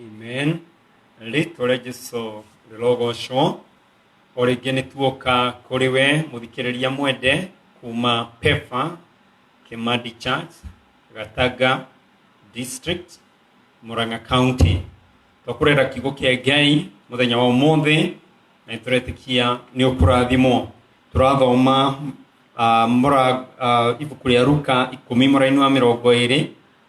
Amen. Rĩtwa rĩa Jesu rĩrogocwo. O rĩngĩ nĩ tuoka kũrĩ we mũthikĩrĩria mwende kuma Pefa, Kimandi Church, Gatanga District, Murang'a County. Twakurera kiugo kĩa Ngai mũthenya wa ũmũthĩ na nĩ tũretĩkia nĩ ũkũrathimwo. Tũrathoma ah, mũra- ah, ibuku rĩa Luka ikũmi mũraini wa mĩrongo ĩrĩ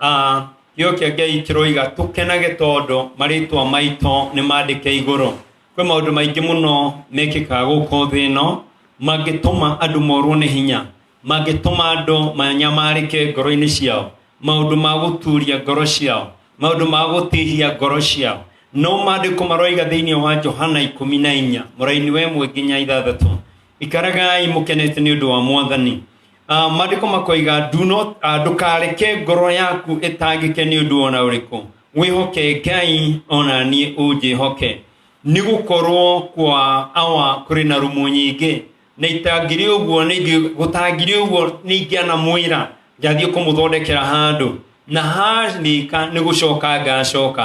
Ah, gĩo kĩa ngai kĩroiga tũkenage tondũ marĩtwa maitũ nĩ mandĩke igũrũ kwĩ maũndũ maingĩ mũno mekĩkaga gũkũ thĩ ĩno mangĩtũma andũ morwo nĩ hinya mangĩtũma andũ manyamarĩke ngoro-inĩ ciao maũndũ ma gũturia ngoro ciao maũndũ ma gũtihia ngoro ciao no mandĩko maroiga thĩinĩ wa johana ikũmi na inya mũraini wa ĩmwe nginya ithathatũ ikaragai mũkenete nĩ ũndũ wa mwathani Ah, maandĩko makoiga "Do not- ah, ndũkareke ngoro yaku ĩtangĩke nĩ ũndũ ona ũrĩkũ wĩhoke ngai ona niĩ ũnjĩhoke nĩ gũkorwo kwa awa kũrĩ na rumu nyingĩ na itangĩrĩ ũguo nĩngĩ- gũtangĩrĩ ũguo nĩingĩanamwĩra ngathiĩ kũmũthondekera handũ na harĩka nĩ gũcoka ngacoka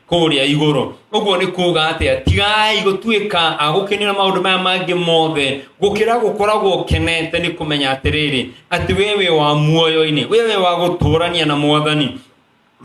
kũrĩa igũrũ ũguo nĩ kuga atĩa tigai gũtuĩka agũkenera maũndũ maya mangĩ mothe gũkĩra gũkoragwo ũkenete nĩ kũmenya atĩrĩrĩ atĩ wee wĩ wa muoyo-inĩ wee wĩ wa gũtũrania na mwathani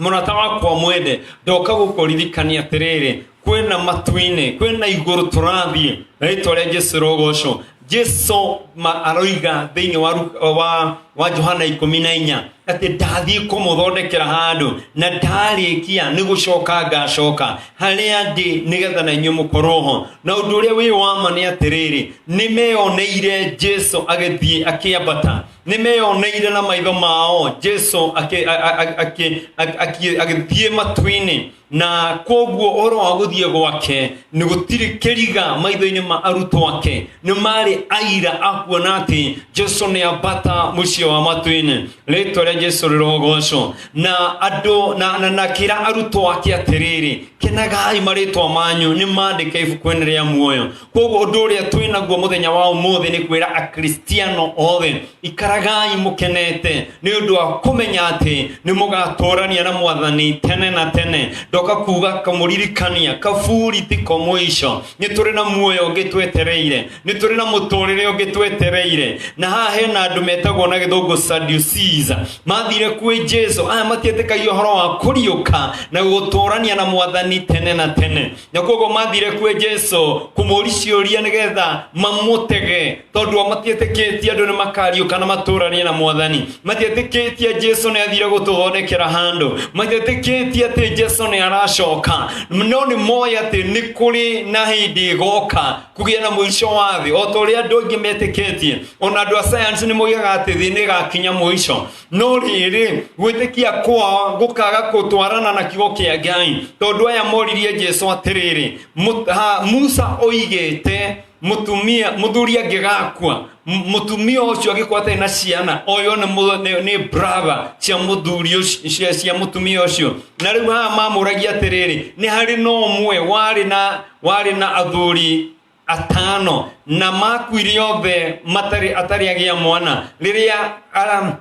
mũrata wakwa mwende ndoka gũkũririkania atĩrĩrĩ kwĩna matu-inĩ kwĩna igũrũ tũrathiĩ na rĩtwa rĩa jesu rogocwo jesu ma aroiga thĩinĩ wa, Lu- wa, wa johana ikũmi na inya atĩ ndathiĩ kũmũthondekera handũ na ndarĩkia nĩ gũcoka ngacoka harĩa ndĩ nĩgetha na inyuĩ mũkorwo ho na ũndũ ũrĩa wĩ wama nĩ atĩrĩrĩ nĩ meyoneire jesu agĩthiĩ akĩambata nĩ meyoneire na maitho mao jesu akĩ- a- a- a- akĩ- a- akĩ- agĩthiĩ matu-inĩ na koguo oro wa gũthiĩ gwake nĩ gũtirĩ kĩriga maitho-inĩ ma arutwo ake nĩ marĩ aira akuona atĩ jesu nĩ ambata mũciĩ wa matwĩnĩ rĩtwa rĩa jesu rĩrogocwo na andũ na, na, na kĩra arutwo ake atĩrĩrĩ kenagai marĩtwa manyu nĩ mandĩke ibuku-inĩ rĩa muoyo koguo ũndũ ũrĩa twĩ naguo mũthenya wa ũmũthĩ nĩ kwĩra akristiano othe ikaragai mũkenete nĩ ũndũ wa kũmenya atĩ nĩ mũgatũrania na mwathani tene na tene ndoka kuga kamũririkania kaburi ti ko mũico nĩ tũrĩ na muoyo ũngĩ twetereire nĩ tũrĩ na mũtũrĩre ũngĩ twetereire na haha hena andũ metagwo na gĩthũngũ Sadducees mathire kwĩ jesu aya matietĩkagia ũhoro wa kũriũka na gũtũrania na mwathani tene na tene na koguo mathire kwĩ jesu kũmũũri ciũria nĩgetha mamũtege tondũ o matiĩtĩkĩtie andũ nĩ makariũka na matũranie na mwathani matiĩtĩkĩtie jesu nĩ athire gũtũthondekera handũ matiĩtĩkĩtie atĩ jesu nĩ aracoka no nĩ moĩ atĩ nĩ kũrĩ na hĩndĩ ĩgoka kũgĩa na mũico wa thĩ o ta ũrĩa andũ aingĩ metĩkĩtie ona andũ a sayansi nĩ moigaga atĩ thĩ nĩ ĩgakinya mũico no rĩrĩ gwĩtĩkia kwao gũkaga gũtwarana na kiugo kĩa ngai tondũ aya moririe jesu atĩrĩrĩ "Mũ- ha, musa oigĩte mũtumia mũthuri angĩgakua m- mũtumia ũcio agĩkwa atarĩ na ciana oyo nĩ mũ- nĩ- nĩ brother cia mũthuri ũcio- cia- cia mũtumia ũcio na rĩu haha mamũragia atĩrĩrĩ nĩ harĩ na ũmwe warĩ na warĩ na athuri atano na makuire othe matari atari agia mwana riria um,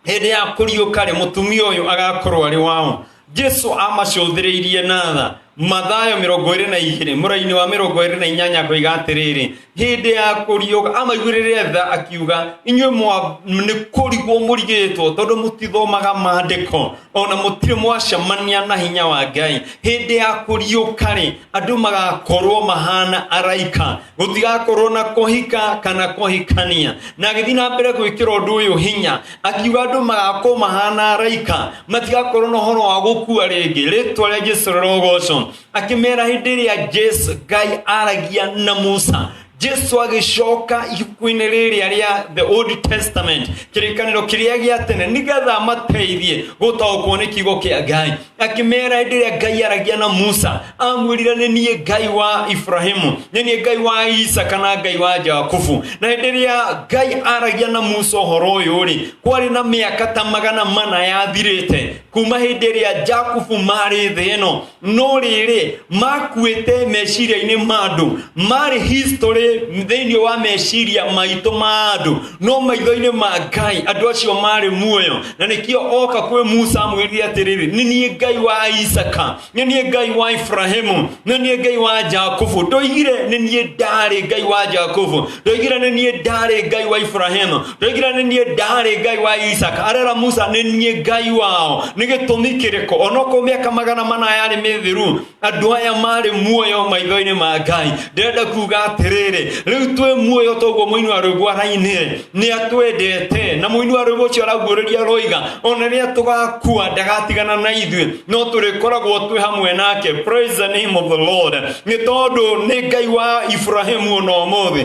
hĩndĩ ya kũriũka-rĩ mũtumia ũyũ agakorwo arĩ wao jesu amacũthĩrĩirie na tha mathayo mĩrongo ĩrĩ na igĩrĩ mũraini wa mĩrongo ĩrĩ na inyanya akoiga atĩrĩrĩ hĩndĩ ya kũriũka amaiguĩrĩre tha akiuga inyuĩ mwa- nĩ kũrigwo mũrigĩtwo tondũ mũtithomaga maandĩko ona mũtirĩ mwacemania na hinya wa ngai hĩndĩ ya kũriũka rĩ andũ magakorwo mahana araika gũtigakorwo na kũhika kana kũhikania na agĩthiĩ na mbere gwĩkĩra ũndũ ũyũ hinya akiuga andũ magakorwo mahana araika matigakorwo na ũhoro wa gũkua rĩngĩ rĩtwa rĩa jesu rĩrogocwo akĩmera hĩndĩ ĩrĩa jesu ngai aragia na musa jesu agĩcoka ibuku-inĩ rĩrĩa rĩa the old testament kĩrĩkanĩro kĩrĩa gĩa tene nĩgetha amateithie gũtaũkwo nĩ kiugo kĩa ngai akĩmera hĩndĩ ĩrĩa ngai aragia na musa amwĩrire nĩ niĩ ngai wa ibrahimu nĩ niĩ ngai wa isaka na ngai wa jakubu na hĩndĩ ĩrĩa ngai aragia na musa ũhoro ũyũ rĩ kwarĩ na mĩaka ta magana mana yathirĩte kuma hĩndĩ ĩrĩa jakubu marĩ thĩ ĩno no rĩrĩ makuĩte meciria-inĩ ma andũ marĩ history thĩinĩ wa meciria maitũ ma andũ no maitho-inĩ ma ngai andũ acio marĩ muoyo na nĩkĩo oka kwĩ musa amwĩrire atĩrĩrĩ nĩ niĩ ngai wa isaka nĩ niĩ ngai wa ibrahimu nĩ niĩ ngai wa jakubu ndoigire nĩ niĩ ndarĩ ngai wa jakubu ndoigire nĩ niĩ ndarĩ ngai wa ibrahimu ndoigire nĩ niĩ ndarĩ ngai wa isaka arera musa nĩ niĩ ngai wao nĩ gĩtũmi kĩrĩkũ onokorwo mĩaka magana mana yarĩ mĩthiru andũ aya marĩ muoyo maitho-inĩ ma ngai ndĩrenda kuga atĩrĩrĩ rĩu twĩ muoyo toguo mũini wa rwĩmbo arainire nĩ atwendete na mũini wa rwĩmbo ũcio araguũrĩria roiga ona rĩrĩa tũgakua ndagatigana na ithuĩ no tũrĩkoragwo twĩ hamwe nake praise the name of the lord nĩ tondũ nĩ ngai wa ibrahimu ona ũmũthĩ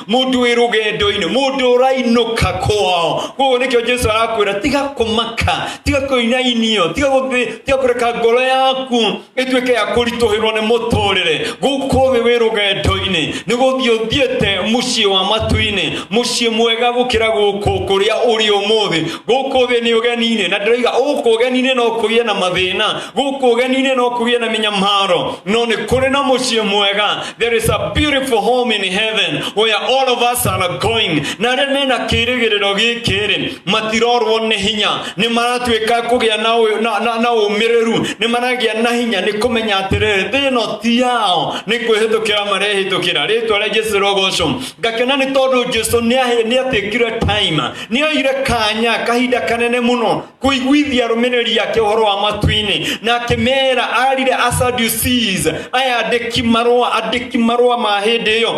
mundu wi rugendo-ini mundu urainuka kwao koguo nikio jesu arakwira tiga kumaka tiga kuinainio tiga guthi tiga kureka ngoro yaku ituike ya kurituhirwo ni muturire guku thi wi rugendo-ini ni guthii uthiete mucii wa matu-ini mucii mwega gukira guku kuria uri umuthi guku thi ni ugeni-ini na ndiroiga guku ugeni-ini no kugie na mathina guku ugeni-ini no kugie na minyamaro no ni kuri na mucii mwega There is a beautiful home in heaven where all of us are going. Na arĩa mena kĩrĩgĩrĩro gĩkĩ rĩ matirorwo nĩ hinya nĩ maratuĩka kũgĩa na ũ- na- na- na ũmĩrĩru nĩ maragĩa na hinya nĩ kũmenya atĩrĩrĩ thĩ ĩno ti yao nĩ kwĩhĩtũkĩra marehĩtũkĩra rĩtwa rĩa jesu rogocwo ngakena nĩ tondũ jesu nĩ ahe- nĩ atĩkire time nĩ oire kanya kahinda kanene mũno kũiguithia rũmĩrĩri yake ũhoro wa matu-inĩ na akĩmera arire asaducis aya andĩki marũa andĩki marũa ma hĩndĩ ĩyo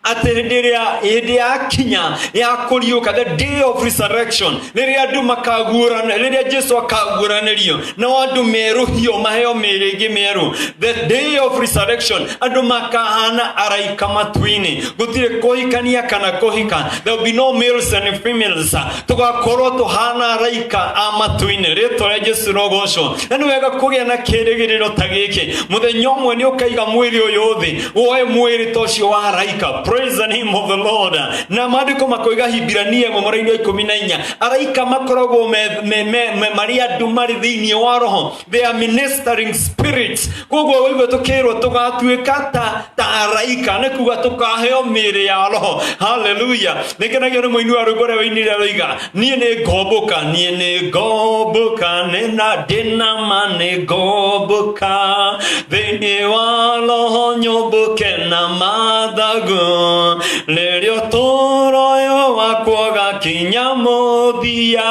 atĩ hĩndĩ ĩrĩa hĩndĩ ya kinya ya kũriũka the day of resurrection rĩrĩa andũ makaguũrana rĩrĩa jesu akaguũranĩrio na andũ merũhio maheo mĩĩrĩ ĩngĩ mĩerũ the day of resurrection andũ makahana araika matu-inĩ gũtirĩ kũhikania kana kũhika there will be no males and females tugakorwo tuhana araika a matu-inĩ rĩtwa rĩa jesu rogocwo na nĩ wega kũgĩa na kĩrĩgĩrĩro ta gĩkĩ mũthenya ũmwe nĩ ũkaiga mwĩrĩ ũyũ thĩ woe mwĩrĩ ta ũcio wa araika praise the name of the lord na maandĩko makoiga hibirania ĩmwe mũraini wa ikũmi na inya araika makoragwo me- me- me- me- marĩ andũ marĩ thĩinĩ wa roho they are ministering spirits koguo waigua tukirwo tugatuĩka ta ta araika nĩ kuga tũkaheo mĩĩrĩ ya roho haleluya nĩ kenagio nĩ mũini wa rwĩmbo rĩa ũini rĩa roiga niĩ nĩ ngomboka niĩ nĩ ngomboka nĩ na ndĩ na ma nĩ ngomboka thĩinĩ wa roho nyũmbũke na mathagu nĩrĩo tũroyo wakwo gakinya mũthia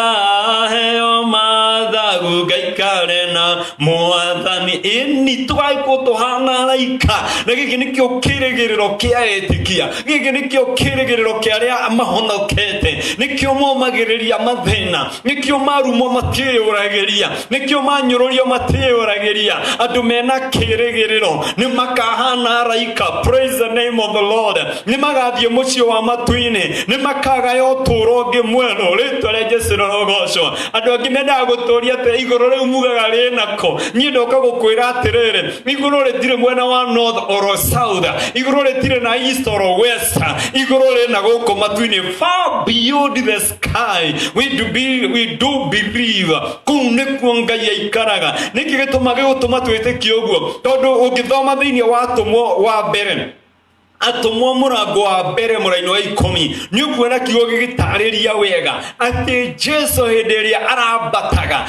heo mathagu ngaikare na mwathani ini tũgaikwo tũhana raika na gĩkĩ nĩkĩo kĩrĩgĩrĩro kĩa etikia gĩkĩ nĩkĩo kĩrĩgĩrĩro kĩa arĩa mahonokete nĩkĩo momagĩrĩria mathĩna nĩkĩo marumwo matĩyũragĩria nĩkĩo manyũrũrio matĩyũragĩria andũ mena kĩrĩgĩrĩro nĩ makahana araika praise the name of the lord nĩ magathiĩ mũciĩ wa matu-inĩ nĩ makagaya ũtũũro ũngĩ mwerũ rĩtwa rĩa jesu rorogocwo andũ angĩ mendaga gũtũũria atĩ igũrũ rĩu mugaga rĩ nako niĩ ndoka gũkwĩra atĩrĩrĩ igũrũ rĩtirĩ mwena wa north or south igũrũ rĩtirĩ na east or west igũrũ rĩ na gũkũ matu-inĩ far beyond the kai we do, be, we do believe kuu nĩkuo ngai aikaraga nĩkĩ gĩtũma gĩgũtũma twĩtĩkie ũguo tondũ ũngĩthoma thĩinĩ wa atũmwo wa mbere atũmwo mũrango wa mbere mũraini wa ikũmi nĩ ũkuona kiugo gĩgĩtarĩria wega atĩ jesu hĩndĩ ĩrĩa arambataga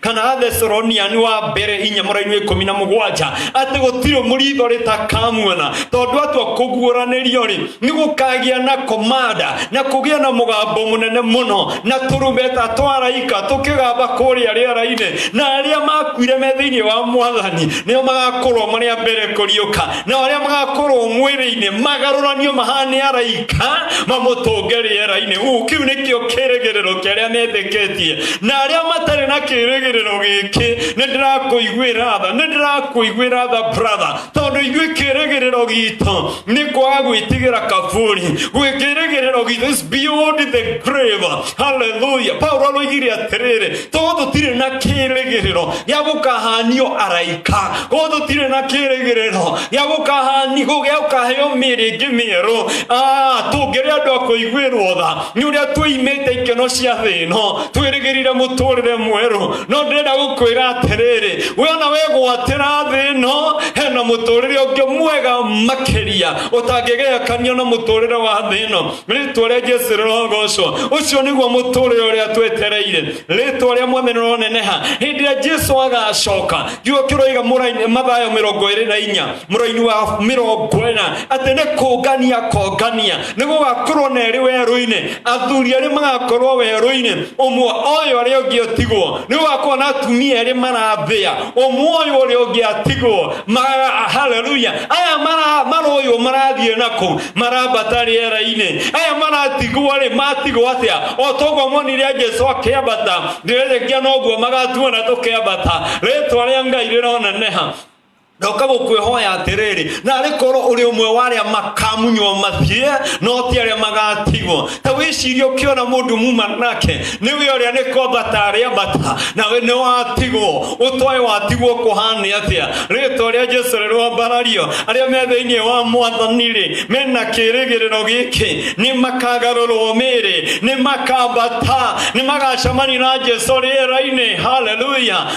kana atheseronia nĩ wa mbere inya mũrainĩ ikũmi na mũgwanja atĩ gũtirĩ mũritho rĩtakamuona tondũ atua kũguũranĩrio rĩ nĩ gũkagĩa na komanda na kũgĩa na mũgambo mũnene mũno na tũrumbeta twaraika tũkĩgamba kũrĩa rĩera-inĩ na arĩa makuire me thĩinĩ wa mwathani nĩo magakũrwo marĩa mbere kũriũka na arĩa magakorwo mwĩrĩ-inĩ magarũranio mahane araika mamũtũnge rĩera-inĩ uu kĩu nĩkĩo kĩrĩgĩrĩro kĩa arĩa metĩkĩtie na arĩa matarĩ na kĩrĩgĩrĩro gĩkĩ nĩ ndĩrakũiguĩra tha nĩ ndĩrakũiguĩra tha brother tondũ ithuĩ kĩrĩgĩrĩro gitũ nĩ kwaga gwĩtigĩra kaburi gwĩkĩrĩgĩrĩro gitũ is beyond the grave haleluya paulo aroigire atĩrĩrĩ tondũ tũtirĩ na kĩrĩgĩrĩro gĩa gũkahanio araika tondũ tũtirĩ na kĩrĩgĩrĩro gĩa gũkahani gĩa gũkaheo mĩĩrĩ ĩngĩ mĩerũ Ah, tũngĩrĩ andũ a kũiguĩrwo tha nĩ ũrĩa tũimĩte ikeno cia thĩ ĩno twĩrĩgĩrire mũtũrĩre mwerũ no ndĩrenda gũkwĩra atĩrĩrĩ we ona wegwatĩra thĩ ĩno hena mũtũrĩre ũngĩ mwega makĩria ũtangĩgerekanio na mũtũrĩre wa thĩ ĩno rĩtwa rĩa jesu rĩrogocwo ũcio nĩguo mũtũrĩre ũrĩa twetereire rĩtwa rĩa mwene rĩroneneha hĩndĩ ĩrĩa jesu agacoka gĩo kĩroiga mũraini- mathayo mĩrongo ĩrĩ na inya mũraini wa mĩrongo ĩna atĩ nĩ kũngania kongania nĩ gũgakorwo na erĩ werũ-inĩ athuri erĩ magakorwo werũ-inĩ ũmwe oyo arĩa ũngĩ ũtigwo nĩ gũgakorwo na atumia erĩ marathĩa ũmwe ũyũ ũrĩa ũngĩ atigwo Ma- haleluya aya mara- maroywo marathiĩ nakũ marambata rĩera-inĩ aya maratigwo rĩ matigwo atĩa o toguo monire a jesu akĩambata ndĩrĩrĩkia noguo magatuona tũkĩambata rĩtwa rĩa ngai rĩroneneha ndoka gũkwĩhoya atĩrĩrĩ narĩ korwo ũrĩ ũmwe wa arĩa makamunywo mathie no ti arĩa magatigwo ta wĩciria ũkĩona mũndũ muma nake nĩwe ũrĩa nĩ kwambata arĩambata nawe nĩ watigwo ũtoe watigwo kũhane atĩa rĩtwa rĩa jesu rĩrwambarario arĩa me thĩinĩ wa mwathani-rĩ mena kĩrĩgĩrĩro gĩkĩ nĩ makagarũrwo mĩĩrĩ nĩ makambata nĩ magacemania na jesu rĩera-inĩ haleluya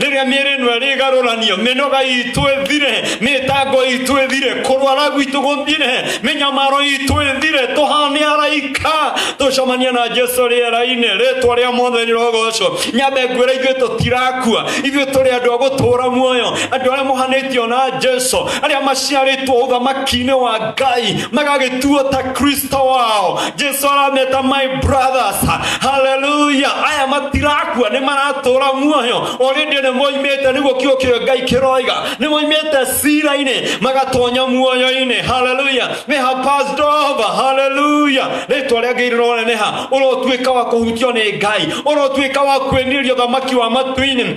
rĩrĩa mĩĩrĩ ĩno ĩrĩgarũranio mĩnoga itũ ĩthire mĩtango itũ ĩthire kũrwara gwitũ gũthire mĩnyamaro itũ ĩthire tũhane araika tũcemania na jesu rĩera-inĩ rĩtwa rĩa mothe rĩrogocwo nyambe ngwĩra ithuĩ tũtirakua ithuĩ tũrĩ andũ a gũtũũra muoyo andũ arĩa mohanĩtio na jesu arĩa maciarĩtwo ũthamaki-inĩ wa ngai magagĩtuo ta kristo Kristo wao. Jesu arameta my brothers. Haleluya. Aya matirakua nĩ maratũra muoyo. Already nĩ moimĩte nĩguo kiugo kĩrĩa Ngai kĩroiga. Nĩ moimĩte cira-inĩ magatonya muoyo-inĩ. Haleluya. They have passed over. Haleluya. Rĩtwa rĩa Ngai rĩroneneha. Ũrotuĩka wa kũhutio nĩ Ngai. Ũrotuĩka wa kwĩnĩria ũthamaki wa matu-inĩ.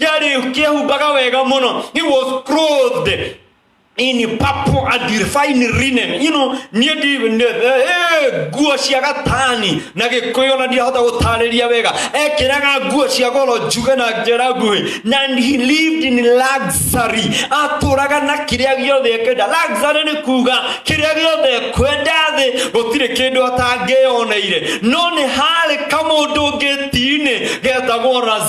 yarĩ kĩehumbaga wega mũno he was clothed in purple and refined linen you know niĩ ndi nĩ- eh, eh, nguo cia gatani na gĩkũyũ na ndirahota gũtarĩria wega ekĩraga nguo cia goro njuge na njĩra nguhĩ na he lived in luxury atũraga na kĩrĩa gĩothe ekwenda luxury nĩ kuga kĩrĩa gĩothe ekwenda thĩ gũtirĩ kĩndũ atangĩyoneire no nĩ harĩ kamũndũ ngĩti-inĩ getagwo Lazaro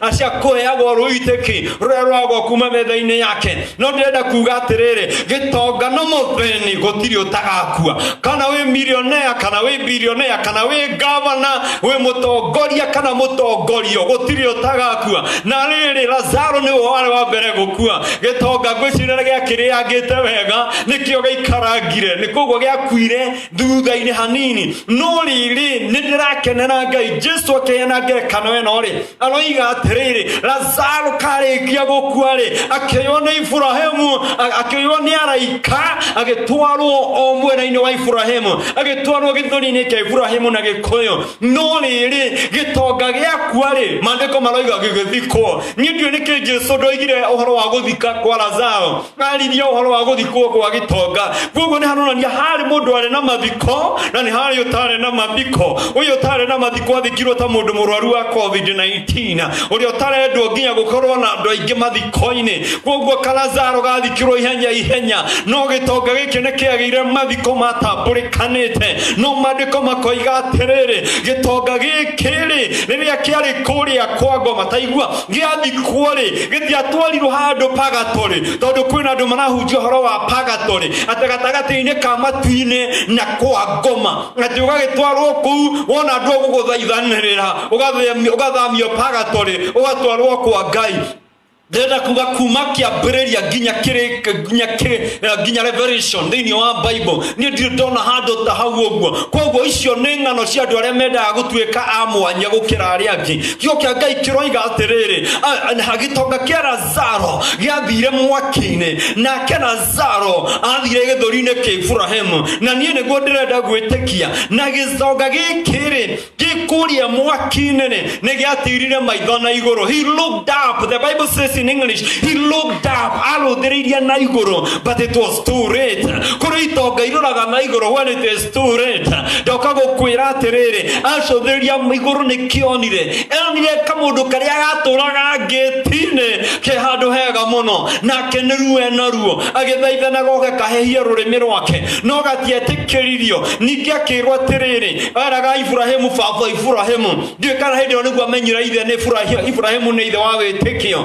acia kũheagwo rũitĩki rũrĩa rwagwo kuma metha-inĩ yake no ndĩrenda kuga atĩrĩrĩ gĩtonga na mũthĩni gũtirĩ ũtagakua kana wĩ milionea kana wĩ bilionea kana wĩ gavana wĩ mũtongoria kana mũtongorio gũtirĩ ũtagakua na rĩrĩ lazaro nĩ we warĩ wa mbere gũkua gĩtonga ngwĩcirĩra gĩakĩrĩangĩte wega nĩkĩo gĩikarangire nĩ koguo gĩakuire thutha-inĩ hanini no rĩrĩ nĩ ndĩrakenera ngai jesu akĩheana ngerekano ĩno rĩ aroiga atĩrĩrĩ lazaro karĩkia gũkua rĩ akĩoywo nĩ iburahĩmu a- akĩoywo nĩ araika agĩtwarwo o mwena-inĩ wa iburahĩmu agĩtwarwo gĩthũri-inĩ kĩa iburahĩmu na gĩkũyũ no rĩrĩ gĩtonga gĩakua rĩ maandĩko maroiga gĩgĩthikwo niĩ ndiũĩ nĩkĩ jesu ndoigire ũhoro wa gũthika kwa lazaro ararĩria ũhoro wa gũthikwo gwa gĩtonga koguo nĩ haronania harĩ mũndũ arĩ na mathiko na nĩ harĩ ũtarĩ na mathiko ũyũ ũtarĩ na mathiko athikirwo ta mũndũ mũrwaru wa covid-19 ũrĩa ũtarendwo nginya gũkorwo na andũ aingĩ mathiko-inĩ koguo karazaro gathikirwo ihenya ihenya no gĩtonga gĩkĩ nĩ kĩagĩire mathiko matambũrĩkanĩte no maandĩko makoiga atĩrĩrĩ gĩtonga gĩkĩ rĩ rĩrĩa kĩarĩ kũrĩa kwa ngoma taigua gĩathikuo-rĩ gĩtiatwarirwo handũ pagatorĩ tondũ kwĩna andũ marahunjia ũhoro wa pagatorĩ atĩ gatagatĩ-inĩ ka matu-inĩ na kwa ngoma atĩ ũgagĩtwarwo kũu wona andũ agũgũthaithanĩrĩra ũgathamio pagatorĩ ũgatwarwo kwa ngai ndĩrenda kuga kuma kĩambĩrĩria nginya kĩrĩ nginya kĩrĩ eh, nginya revelation thĩinĩ wa bible niĩ ndirĩ ndona handũ ta hau ũguo koguo icio nĩ ng'ano cia andũ arĩa mendaga gũtuĩka a mwanya gũkĩra arĩa angĩ kiugo kĩa ngai kĩroiga atĩrĩrĩ a- na gĩtonga kĩa lazaro gĩathire mwaki-inĩ nake lazaro athire gĩthũri-inĩ kĩa iburahĩmu na niĩ nĩguo ndĩrenda gwĩtĩkia na gĩtonga gĩkĩrĩ gĩkũria mwaki-inĩ rĩ, nĩ gĩatirire maitho na igũrũ he looked up the bible says in english he looked up arũthĩrĩirie na igũrũ but it was too late kũrĩ itonga irũraga na igũrũ when it is tu reta ndoka gukwira atiriri acuthiria iguru nikionire enire kamundu karia gaturaga ngitini ke handu hega muno nake niruo ena ruo agithaithana goke kahehie rurimi rwake no gatiatikiririo ningi akirwo atiriri eraga iburahimu baba iburahimu ndiũĩ kana hĩndĩ ĩyo nĩguo amenyire ithe nĩ Iburahi- iburahimu nĩ ithe wa wĩtĩkio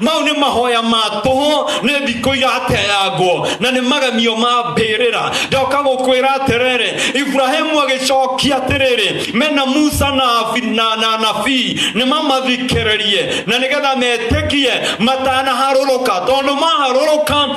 mau nĩ mahoya ma tũhũ nĩ ndikũ irateyangwo na nĩ magemio ma mbĩrĩra ndoka gũkwĩra atĩrĩrĩ iburahĩmu agĩcokia atĩrĩrĩ mena musa na abi- na- na nabii nĩ mamathikĩrĩrie na nĩgetha metĩkie matanaharũrũka tondũ maharũrũka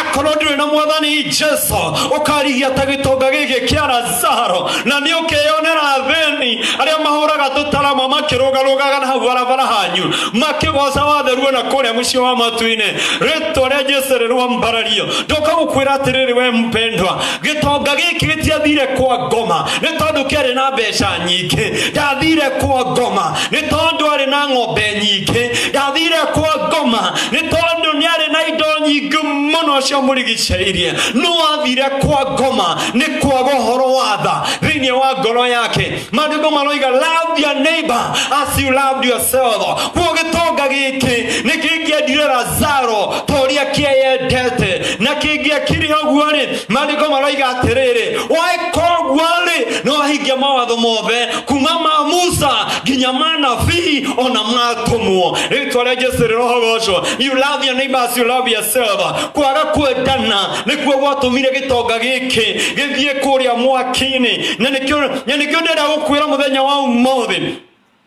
akorwo ndũrĩ na mwathani jesu ũkarihia ta gĩtonga gĩkĩ kĩa lazaro na nĩ ũkeyonera athĩni arĩa mahũraga tũtarama makĩrũgarũgaga na hau barabara hanyu makĩgoca watheruo na kũrĩa mũciĩ wa matu-inĩ rĩtwa rĩa jesu rĩrwambarario ndoka gũkwĩra atĩrĩrĩ we mpendwa gĩtonga gĩkĩ gĩtiathire kwa ngoma nĩ tondũ kĩarĩ na mbeca nyingĩ ndathire kwa ngoma nĩ tondũ arĩ na ng'ombe nyingĩ ndathire kwa ngoma nĩ tondũ nĩ arĩ na indo nyingĩ mũno cia mũrigicĩirie no athire kwa ngoma nĩ kwaga ũhoro wa tha thĩinĩ wa ngoro yake maandĩko maroiga love your neighbor as you loved yourself kuo gĩtonga gĩkĩ nĩ kĩngĩendire lazaro ta ũrĩa kĩeyendete na kĩngĩakire ũguo-rĩ maandĩko maroiga atĩrĩrĩ waĩka ũguo-rĩ no ahingia mawatho mothe kuma ma musa nginya manabii ona matũmwo rĩtwa rĩa jesu rĩrohogocwo you love your neighbor as you love yourself kwaga kwendana nĩkuo gwatũmire gĩtonga gĩkĩ gĩthiĩ kũrĩa mwaki-inĩ na nĩkĩo na nĩkĩo ndĩrenda gũkwĩra mũthenya wa ũmũthĩ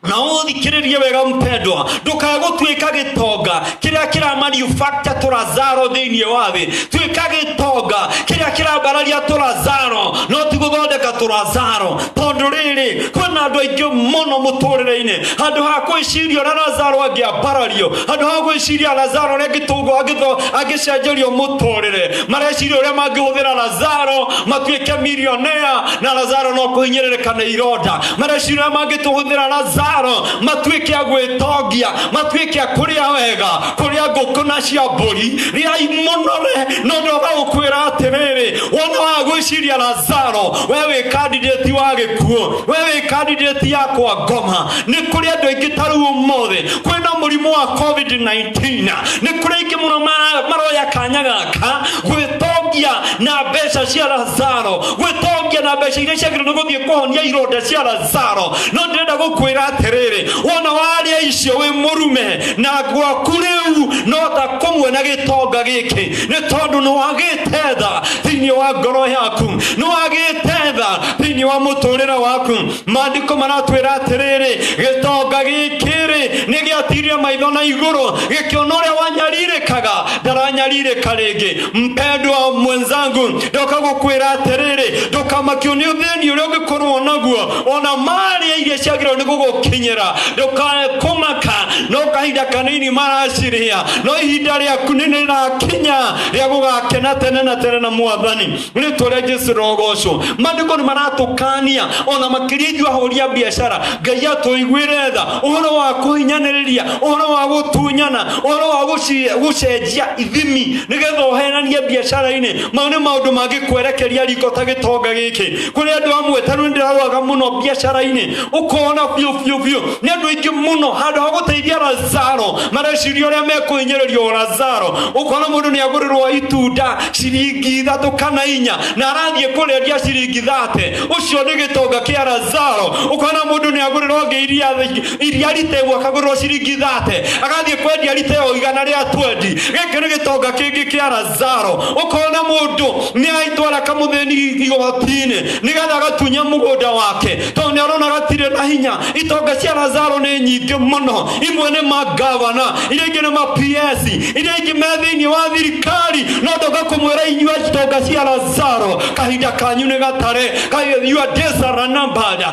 na ũthikĩrĩrie wega mpendwa ndũkagũtuĩka gĩtonga kĩrĩa kĩramanufacture tũrazaro thĩinĩ wa thĩ tuĩka gĩtonga kĩrĩa kĩrambararia tũrazaro no ti gũthondeka tũrazaro tondũ rĩrĩ kwĩna andũ aingĩ mũno mũtũrĩre-inĩ handũ ha kwĩciria ũrĩa razaro angĩambarario handũ ha gwĩciria razaro ũrĩa gĩtũngũ angĩtho- angĩcenjerio mũtũrĩre mareciria ũrĩa mangĩhũthĩra razaro matuĩke milionea na razaro no kũhinyĩrĩrĩka nĩ ironda na meciria mangĩtũhũthĩra lazaro matuĩke a gwĩtongia matuĩke a kũrĩa wega kũrĩa ngũkũ na cia mbũri rĩai mũnore no ndoga gũkwĩra atĩrĩrĩ wona wa gwĩciria lazaro we wĩ kandidati wa gĩkuũ we wĩ kandidati yakwa ngoma nĩ kũrĩ andũ aingĩ ta rĩu ũmũthĩ kwĩna mũrimũ wa covid-19 nĩ kũrĩ aingĩ mũno ma- maroya kanya gaka gwĩtongia na mbeca cia lazaro gwĩtongia na mbeca iria ciagĩrĩirwo nĩ gũthiĩ kũhonia ironda cia lazaro no ndĩrenda gũkwĩra atĩrĩrĩ wona warĩa icio wĩ mũrume na gwaku rĩu no ta kũmwe na gĩtonga gĩkĩ nĩ tondũ nĩ wagĩte tha thĩinĩ wa ngoro yaku nĩ wagĩte tha thĩinĩ wa mũtũrĩre waku maandĩko maratwĩra atĩrĩrĩ gĩtonga gĩkĩ rĩ nĩ gĩatirie maitho na igũrũ gĩkĩona ũrĩa wanyarirĩkaga ndaranyarirĩka rĩngĩ mpendwa mwenzangu ndoka gukwira atiriri ndukamakio ni uthini uria ungikorwo naguo ona maria iria ciagirwo ni gugukinyira ndukage kumaka no kahinda kanini maraciria no ihinda riaku ni rirakinya ria gugakena tene na tene na mwathani ritwa ria jesu rogocwo mandiko ni maratukania ona makiria ithuĩ ahũri a biacara ngai atũiguĩre tha ũhoro wa kũhinyaniria ũhoro wa gũtunyana ũhoro wa gũci- gũcenjia ithimi nĩgetha ũhenanie biacara-inĩ mau nĩ maũndũ mangĩkwerekeria riko ta gĩtonga gĩkĩ kũrĩ andũ amwe ta rĩu ndĩrarwaga mũno biacara-inĩ ũkona biũ biũ biũ nĩ andũ aingĩ mũno handũ ha gũteithia lazaro mareciria ũrĩa mekũhinyĩrĩrio lazaro ũkona mũndũ nĩ agũrĩrwo itunda ciringi ithatũ kana inya na arathiĩ kũrĩendia ciringi thate ũcio nĩ gĩtonga kĩa lazaro ũkona mũndũ nĩ agũrĩrwo ngĩ iria iria rita ĩmwe akagũrĩrwo ciringi thate agathiĩ kwendia rita ĩyo igana rĩa twendi gĩkĩ nĩ gĩtonga kĩngĩ kĩa razaro ũkona mũndũ nĩ aitwara kamũthĩni igoti-inĩ nĩgetha agatunye mũgũnda wake tondũ nĩ arona gatirĩ na hinya itonga cia razaro nĩ nyingĩ mũno imwe nĩ magavana iria ingĩ nĩ ma PS iria ingĩ me thĩinĩ wa thirikari no ndoka kũmwĩra inyuĩ itonga cia razaro kahinda kanyu nĩ gatare Kahi- your days are numbered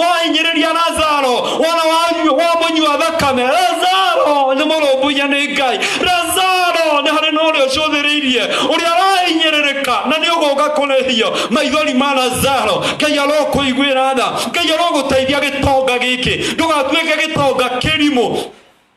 wahinyĩrĩria lazaro wona wanyu- wamũnyua thakame lazaro nĩ mũrũmbũiya nĩ ngai lazaro nĩ harĩ na ũrĩa ũcũthĩrĩirie ũrĩa arahinyĩrĩrĩka na nĩ ũgũka kũrĩhio maithori ma lazaro ngai arokũiguĩra tha ngai arogũteithia gĩtonga gĩkĩ ndũgatuĩke gĩtonga kĩrimũ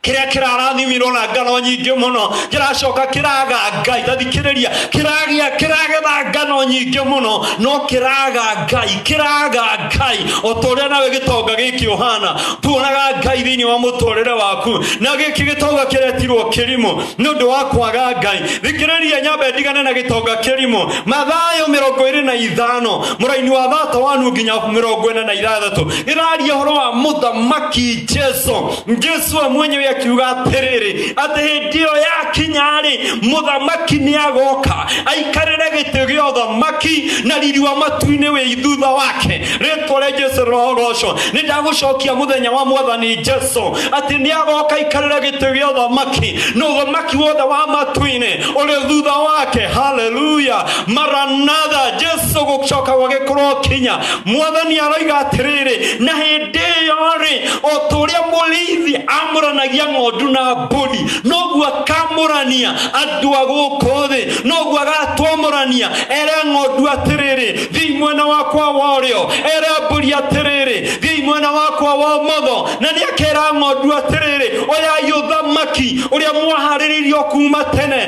kĩrĩa kĩrarathimirwo na ngano nyingĩ mũno kĩracoka kĩraga ngai tathikĩrĩria kĩragĩa kĩragetha ngano nyingĩ mũno no kĩraga ngai kĩraga ngai o ta ũrĩa nawe gĩtonga gĩkĩ ũhana tuonaga ngai thĩinĩ wa mũtũrĩre waku na gĩkĩ gĩtonga kĩretirwo kĩrimũ nĩ ũndũ wa kwaga ngai thikĩrĩria nyambe ndigane na gĩtonga kĩrimũ mathayo mĩrongo ĩrĩ na ithano mũraini wa thata wanu nginya mĩrongo ĩna na ithathatũ ĩraria ũhoro wa mũthamaki jesu jesu amwenyewe akiuga atĩrĩrĩ atĩ hĩndĩ ĩyo yakinya-rĩ mũthamaki nĩ agoka aikarĩre gĩtĩ gĩa ũthamaki na riri wa matu-inĩ wĩ thutha wake rĩtwa rĩa jesu rĩrogoco nĩ ndagũcokia mũthenya wa mwathani jesu atĩ nĩ agoka aikarĩre gĩtĩ gĩa ũthamaki na ũthamaki wothe wa matu-inĩ ũrĩ thutha wake haleluya maranatha jesu gũcoka gwagĩkorwo kinya mwathani aroiga atĩrĩrĩ na hĩndĩ ĩyo-rĩ o ta ũrĩa mũrĩithi amũranagia ng'ondu na mbũri noguo akamũrania andũ a gũkũ thĩ noguo agatwamũrania era ng'ondu atĩrĩrĩ thiĩ mwena wakwa wa ũrĩo era mbũri atĩrĩrĩ thiĩ mwena wakwa wa ũmotho na nĩ akera ng'ondu atĩrĩrĩ oyai ũthamaki ũrĩa mwaharĩrĩirio kuma tene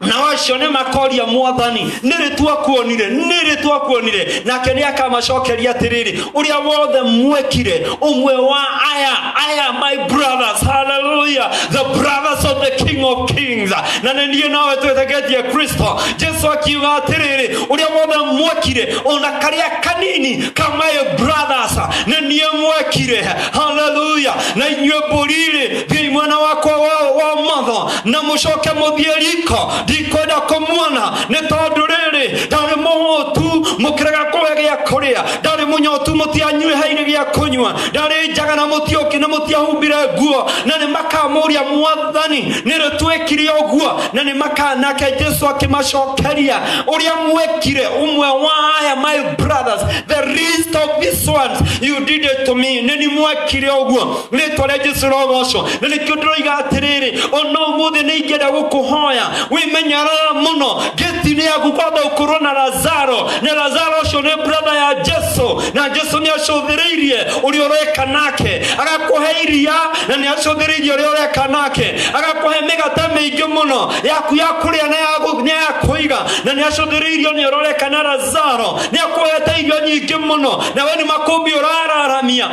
nao acio nĩ makoria mwathani nĩrĩ twakuonire nĩrĩ twakuonire nake nĩ akamacokeria atĩrĩrĩ ũrĩa wothe mwekire ũmwe wa aya aya my brothers hallelujah the brothers of the king of kings na nĩ niĩ nawe twĩtegetie kristo jesu akiuga atĩrĩrĩ ũrĩa wothe mwekire ona karĩa kanini ka my brothers nĩ niĩ mwekire hallelujah na inyuĩ mbũrirĩ thiai mwena wakwa wa wa matho na mucoke muthie riko ndikwenda kumuona ni tondu riri ndari muhutu mukirega kuhe gia kuria ndari munyotu mutianyuihaire gia kunywa ndari njaga na mutioki na mutiahumbire nguo na ni makamuria mwathani niri twikire uguo na ni makanake jesu akimacokeria uria mwekire umwe wa aya my brothers the least of these ones you did it to me nini mwekire uguo rĩtwa rĩa jesu rogocwo na nĩkĩo ndĩroiga atĩrĩrĩ ona ũmũthĩ nĩ ingĩenda gũkũhoya wĩmenyerere mũno gĩti-inĩ yaku kwamba ũkorwo na lazaro na lazaro ũcio nĩ brother ya jesu na jesu nĩ acũthĩrĩirie ũrĩa ũreka nake agakũhe iria na nĩ acũthĩrĩirie ũrĩa ũreka nake agakũhe mĩgate mĩingĩ mũno yaku ya kũrĩa na ya gũ- na ya kũiga na nĩ acũthĩrĩirie ũrĩa ũreka na lazaro nĩ akũhete irio nyingĩ mũno na we nĩ makũmbĩ ũrararamia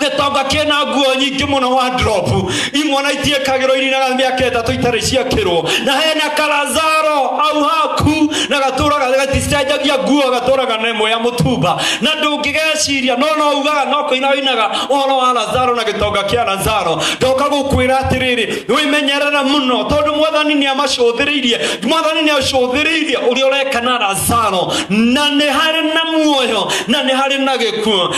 gĩtonga kĩna nguo nyingĩ mũno wa drop imwana itiĩkagĩrwo irina na mĩaka ĩtatũ itarĩ ciakĩrwo na hena karazaro au haku na gatũraga gaticenjagia nguo gatũraga na ĩmwe ya mũtumba na ndũngĩgeciria no no ugaga no kũina ũinaga ũhoro wa lazaro na gĩtonga kĩa lazaro ndoka gũkwĩra atĩrĩrĩ wĩmenyerere mũno tondũ mwathani nĩ amacũthĩrĩirie mwathani nĩ acũthĩrĩirie ũrĩa ũreka na lazaro na nĩ harĩ na muoyo na nĩ harĩ na gĩkuo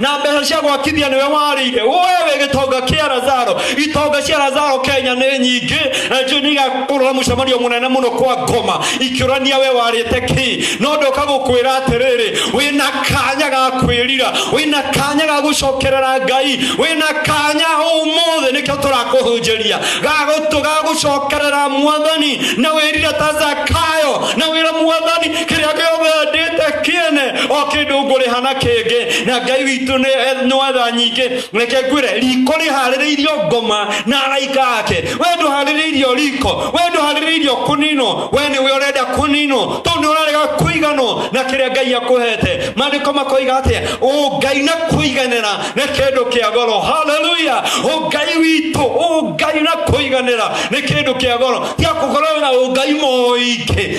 na mbeca cia gwakithia nĩwe warĩire wewe gĩtonga kĩa razaro itonga cia razaro kenya nĩ nyingĩ na njuĩ nĩ igakũrũra mũcemanio mũnene mũno kwa ngoma ikĩũrania we warĩte kĩ no ndoka gũkwĩra atĩrĩrĩ wĩna kanya ga kwĩrira wĩna kanya ga gũcokerera ngai wĩna kanya ũmũthĩ nĩkĩo tũrakũhunjĩria gagũtũ ga gũcokerera mwathani na wĩrire ta zakayo na wĩra mwathani kĩrĩa gĩothe endĩte kĩene o kĩndũ ngũrĩha na kĩngĩ na ngai witũ nĩ etha nyingĩ reke ngwĩre riko rĩharĩrĩirio ngoma na araika ake we ndũharĩrĩirio riko we ndũharĩrĩirio kũninwo we nĩ we ũrenda kũninwo tondũ nĩ ũrarega kũiganwo na kĩrĩa ngai akũhete maandĩko makoiga atĩa ũngai na kũiganĩra nĩ kĩndũ kĩa goro haleluya ũngai witũ ũngai na kũiganĩra nĩ kĩndũ kĩa goro tiakũgorwo na ũngai moingĩ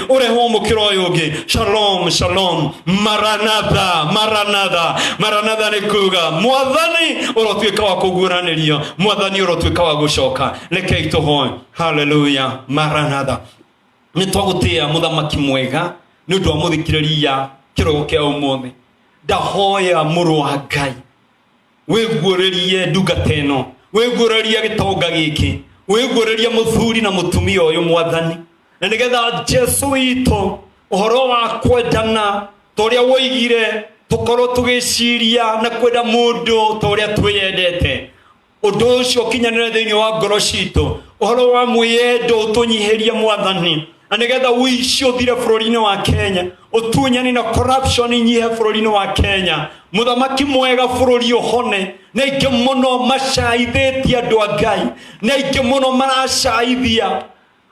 ũrehe ũmũkĩra ũyũ ũngĩ shalom shalom maranatha maranatha maranatha nĩ kuga mwathani ũrotuĩka wa kũguũranĩrio mwathani ũrotuĩka wa gũcoka rekei tũhoe haleluya maranatha nĩ twagũtĩa mũthamaki mwega nĩ ũndũ wa mũthikĩrĩria kĩrogo kĩa ũmũthĩ ndahoya mũrũ wa ngai wĩguũrĩrie ndungata ĩno wĩguũrĩrie gĩtonga gĩkĩ wĩguũrĩrie mũthuri na mũtumia ũyũ mwathani na nĩgetha jesu witũ ũhoro wa kwendana ta ũrĩa woigire tũkorwo tũgĩciria na kwenda mũndũ ta ũrĩa twĩyendete ũndũ ũcio ũkinyanĩre thĩinĩ wa ngoro citũ ũhoro wa mwĩyendo ũtũnyihĩrie mwathani na nigetha ũici ũthire bũrũri-inĩ wa kenya ũtunyani na corruption inyihe bũrũri-inĩ wa kenya mũthamaki mwega bũrũri ũhone na ingĩ mũno macaithĩtie andũ a ngai na ingĩ mũno maracaithia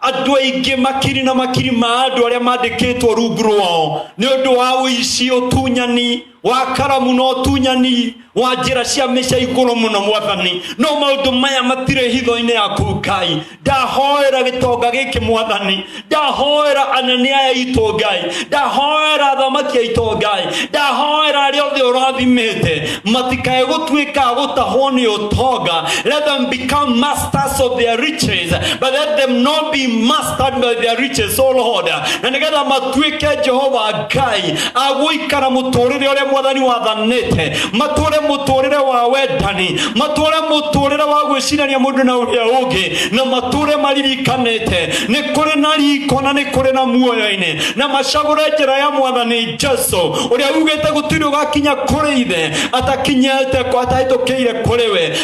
andũ aingĩ makiri na makiri ma andũ arĩa mandĩkĩtwo rungu rwao nĩ ũndũ wa ũici ũtunyani wa karamu na ũtunyani wa njĩra cia mĩca igũrũ mũno mwathani no maũndũ maya matirĩ hitho-inĩ yaku ngai ndahoera gĩtonga gĩkĩ mwathani ndahoera anene aya itũ ngai ndahoera athamaki aitũ ngai ndahoera arĩa othe ũrathimĩte matikae gũtuĩka a gũtahwo nĩ ũtonga let them become master masters of their riches, but let them not be mastered by their riches, O Lord. Na nigetha matuike Jehova Ngai agũikara mũtũrĩre ũrĩa mwathani wathanĩte, matũre mũtũrĩre wa wendani, matũre mũtũrĩre wa gwĩcirania mũndũ na ũrĩa ũngĩ, na matũre maririkanĩte nĩ kũrĩ na riko na nĩ kũrĩ na muoyo-inĩ, na macagũre njĩra ya mwathani Jesu ũrĩa ugĩte gũtirĩ ũgakinya kũrĩ ithe atakinyĩte atahĩtũkĩire kũrĩ we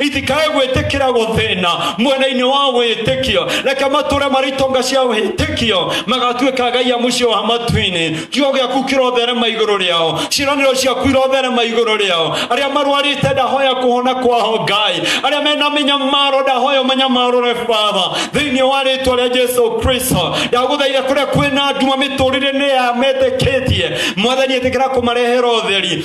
itikae gwĩtĩkĩra gũthĩna mwena-inĩ wa wĩtĩkio reke matũre marĩ itonga cia wĩtĩkio magatuĩka ngai a mũciĩ wa matu-inĩ kiugo gĩaku kĩrotherema igũrũ rĩao ciĩranĩro ciaku irotherema igũrũ rĩao arĩa marwarĩte ndahoya kũhona kwao ngai arĩa mena mĩnyamaro ndahoya ũmanyamarũre baba thĩinĩ wa rĩtwa rĩa jesu kristo ndagũthaire kũrĩa kwĩna nduma mĩtũrĩre-inĩ ya metĩkĩtie mwathani ĩtĩkĩra kũmarehera ũtheri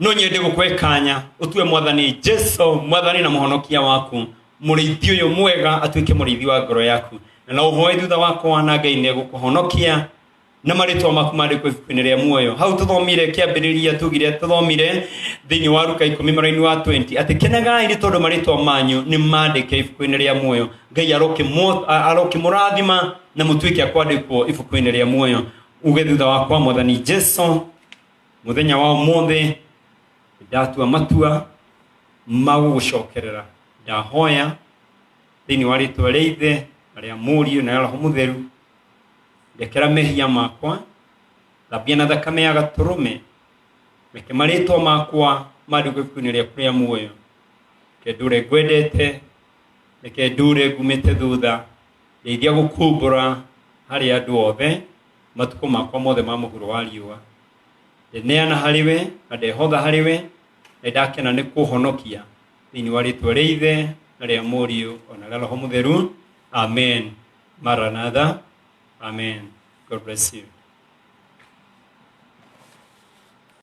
no nyende gå kå kanya å tue mwathani jesu mwathani na må honokia waku må rä ithi å yå mwega atuä ke må rä ithi wa ngoro yaku na no å hoe thutha wakwa na ngai nä egå kå honokia na marĩtwa maku mandĩkwo ibuku-inĩ rĩa muoyo hau tũthomire kĩambĩrĩria tugire tũthomire thĩinĩ wa ruka ikũmi mũraini wa 20 atĩ kenegai nĩ tondũ marĩtwa manyu nĩ mandĩke ibuku-inĩ rĩa muoyo ngai arokĩmũ- a- arokĩmũrathima na mũtuĩke a kwandĩkwo ibuku-inĩ rĩa muoyo uge thutha wakwa mwathani jesu muthenya wa umuthi ndatua matua ma gũgũcokerera ndahoya thĩinĩ wa rĩtwa rĩa ithe na rĩa mũriũ na rĩa roho mũtheru ndekera mehia makwa thambia na thakame ya gatũrũme reke marĩtwa makwa mandĩkwo ibuku-inĩ rĩaku rĩa muoyo reke ndũre ngwendete reke ndũre ngumĩte thutha ndeithia gũkumbũra harĩ andũ othe matukũ makwa mothe ma mũhuro wa riũa ndeneana harĩ we na ndehotha harĩ we na ndakena nĩ kũhonokia thĩinĩ wa rĩtwa rĩa ithe na rĩa mũriũ ona rĩa roho mũtheru amen maranatha amen god bless you